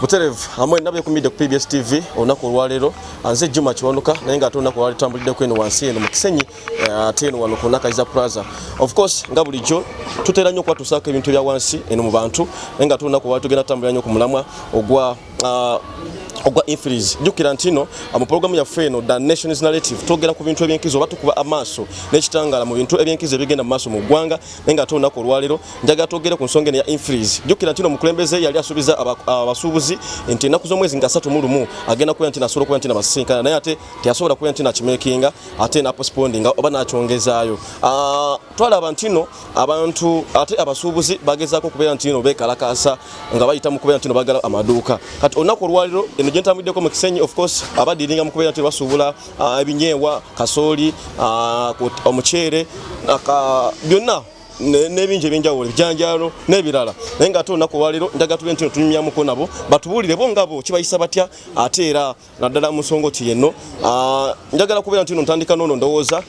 Buterevu amwe nabe kumide ku PBS TV olunaku olwaleero anze Juma Kiwanuka naye nga ate olunaku olwaleero tambulidde kweno wansi eno mu Kisenyi eh, ate eno wano ku Nakayiza Plaza of course nga bulijjo tutera nnyo okubatusako ebintu bya wansi eno mu bantu naye nga ate olunaku olwaleero tugenda tambulira nnyo ku mulamwa ogwa ah, ogwa infries jukira ntino mu programu yaffe eno the nations narrative twogera ku bintu ebyenkizo oba tukuba amaaso n'ekitangaala mu bintu ebyenkizo ebigenda mu maaso mu ggwanga naye nga ate olunaku olwaleero njagala twogere ku nsonga eno ya infreeze jjukira nti no omukulembeze yali asuubiza abasuubuzi nti ennaku z'omwezi nga satu mu lumu agenda kubeera nti nasobola okubeera nti nabasisinkana naye ate teyasobola kubeera nti nakimekinga ate napospondinga oba nakyongezaayo ah, twalaba nti no abantu ate abasuubuzi bagezaako okubeera nti no beekalakaasa nga bayita mu kubeera nti no bagala amaduuka kati olunaku olwaleero eno gye ntambuddeko mu kisenyi of course abadiringa mu kubeera nti basuubula ah, ebinyeebwa kasooli ah, omuceere ah, byonna n'ebingi ebyenjawulo ebijanjaalo n'ebirala naye nga ate olunaku olwaleero njaga tube nti tunyumyamuko nabo batubuulire bo nga bo kibayisa batya ate era naddala mu nsonga oti yenno njagala kubeera nti no ntandika noono ndowooza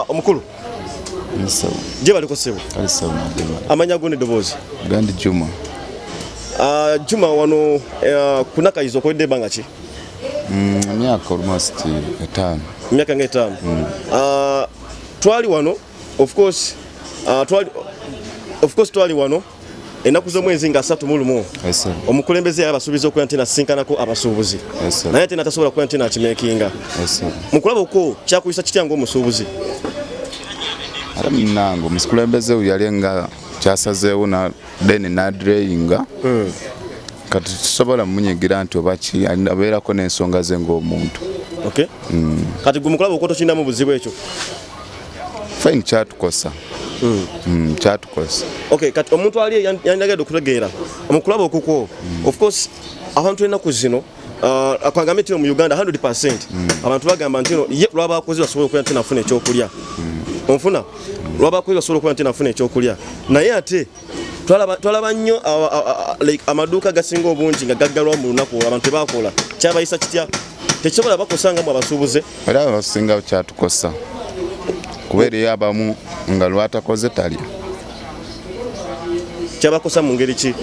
omukulu gye baliko ssebo amanya go nedoboozi gandi juma Ah, juma wano eh, kunakayiza okoledde ebanga ki Mm, emyaka almost etaano. Emyaka nga etaano. Mm. Uh, twali wano of course uh, twali of course twali wano ennaku z'omwezi nga asatu mu lumu omukulembeze yali abasuubiza okuba nti nasinkanako abasuubuzi naye ate natasobola okuba nti nakimekinga mu kulaba okwo kyakuyisa kitya ngaomusuubuzi ate munange omukulembeze yali nga kyasazeewo then nadreyinga mm. kati tusobola munyigira nti obaki abeerako n'ensonga ze ng'omuntu okay. mm. kati gwe mukulaba okuba tokirinamu buzibu ekyo fine kyatukosa mm. mm, kyatukosa okay, kati omuntu ali yanjagade okutegeera omukulaba okukwo mm. of course abantu enaku zino Uh, akwagambye nti mu Uganda 100% mm. abantu bagamba nti ye lwaba akoze basobola okuya nti nafuna ekyokulya mm. onfuna lwaba akoze basobola okuya nti nafuna ekyokulya naye ate twalaba nnyo amaduuka gasinga obungi nga gaggalwa mu lunaku abantu tebakola kyabayisa kitya tekisobola bakosanga mu abasuubuze era abasinga kyatukosa kuba eriyo abamu nga lwatakoze talya kyabakosa mu ngeri ki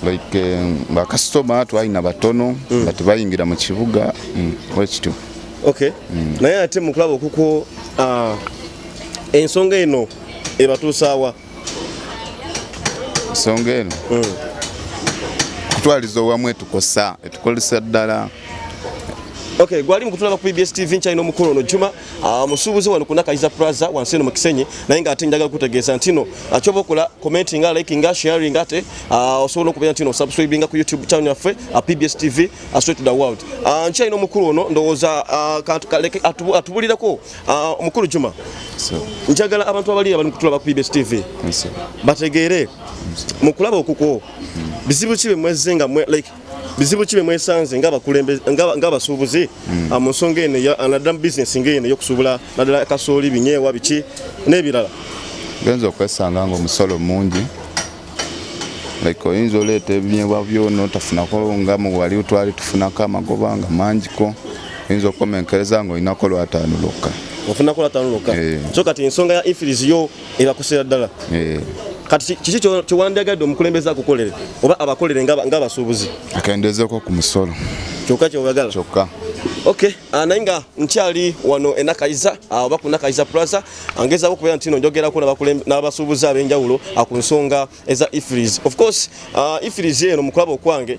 like eh, bakasitoma twalina batono mm. nga tebayingira mu kibuga mm, wekityo okay mm. naye ate mukulaba okuko ah, ensonga eno ebatuusaawa ensonga eno kutwaliza owamu etukosa etukolesa ddala okay gwali mukutulaba ku bbs tv nkyalina omukulu ono juma Ah, musuubuzi wano ku nakayiza plaza wansi eno mu kisenyi naye nga ate njagala kutegeeza ntino ah, kyoba okola commenti nga like nga sharing nga ate ah, osobola okubeera ntino subscribinga ku youtube channel yaffe pbs tv straight to the world nkyalina omukulu ono ndowooza atubulirako omukulu juma njagala abantu abali abali mukutulaba ku pbs tv bategeere mukulaba okukwo bizibu ki bemwezze nga like bizibu ki bemwesanze ng'abasuubuzi hmm. ah, mu nsonga eno naddala mu bizinesi ng'eno eyokusuubula naddala kasooli binyeewa biki n'ebirala genza okwesanga ngaomusolo mungi like oyinza oleeta ebinyeebwa byona otafunako nga muwali twali tufunako amagoba nga mangiko oyinza okukomenkereza nga olinako lwataano lwokka ofunako lwataano lwokka eh. so kati ensonga ya infirizi yo ebakosera ddala eh. kati kiki kyewandiyagadde omukulembeze akukolere oba abakolere ng'abasuubuzi akendezeeko ku musolo kyokka kyeoyagala kyokka ok ah, naye nga nkyali wano enakayiza ah, oba ku nakayiza plaza ah, ngezaako okubeera nti no njogerako n'abasuubuzi ab'enjawulo ku nsonga eza ifris of course ifris eno mu kulaba okwange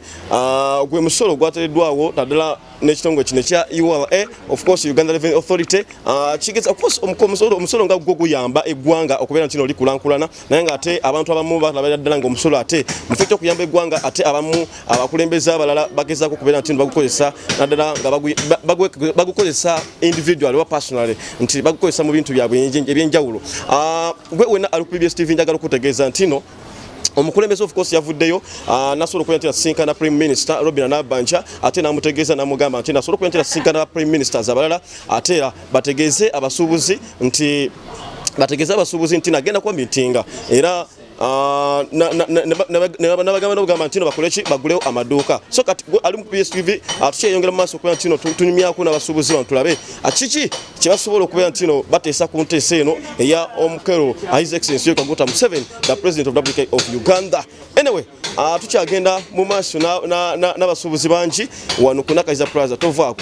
gwe musolo gwatereddwawo naddala n'ekitongole kino ekya ura e of course uganda revenue authority ah, kigeza of course omusolo omusolo nga gwo guyamba eggwanga okubeera nti oli kulankulana naye nga ate abantu abamu balabira ddala nga omusolo ate mufo kyokuyamba eggwanga ate abamu abakulembeze abalala bagezaako okubeera nti bagukozesa naddala nga bagukozesa individual oba personally nti bagukozesa mu bintu byabwe ebyenjawulo ah, gwe wena ali ku bbs tv njagala okutegeeza ntino omukulembeze of course yavuddeyo ah, nasobola okubeera nti nasisinkana prime minister robina nabanja ate namutegeeza namugamba nti nasobola okubeera nti nasisinkana prime ministers abalala ate era bategeeze abasuubuzi nti bategeeze abasuubuzi nti nagenda kuba mitinga era Ah, nabagamba nobugamba ntino bakoleki bagulewo amaduuka so kati ali mu pstv atukyeyongera ah, mu maaso okuba ntino tunyumyako n'abasuubuzi bano tulabe ah, kiki kyebasobola okubeera nti no bateesa ku nteesa eno eya omukero his excellence yo kaguta museven the president of republic of uganda anyway uh, tukyagenda mu maaso n'abasuubuzi na, na, na bangi wano ku nakayiza plaza tovaako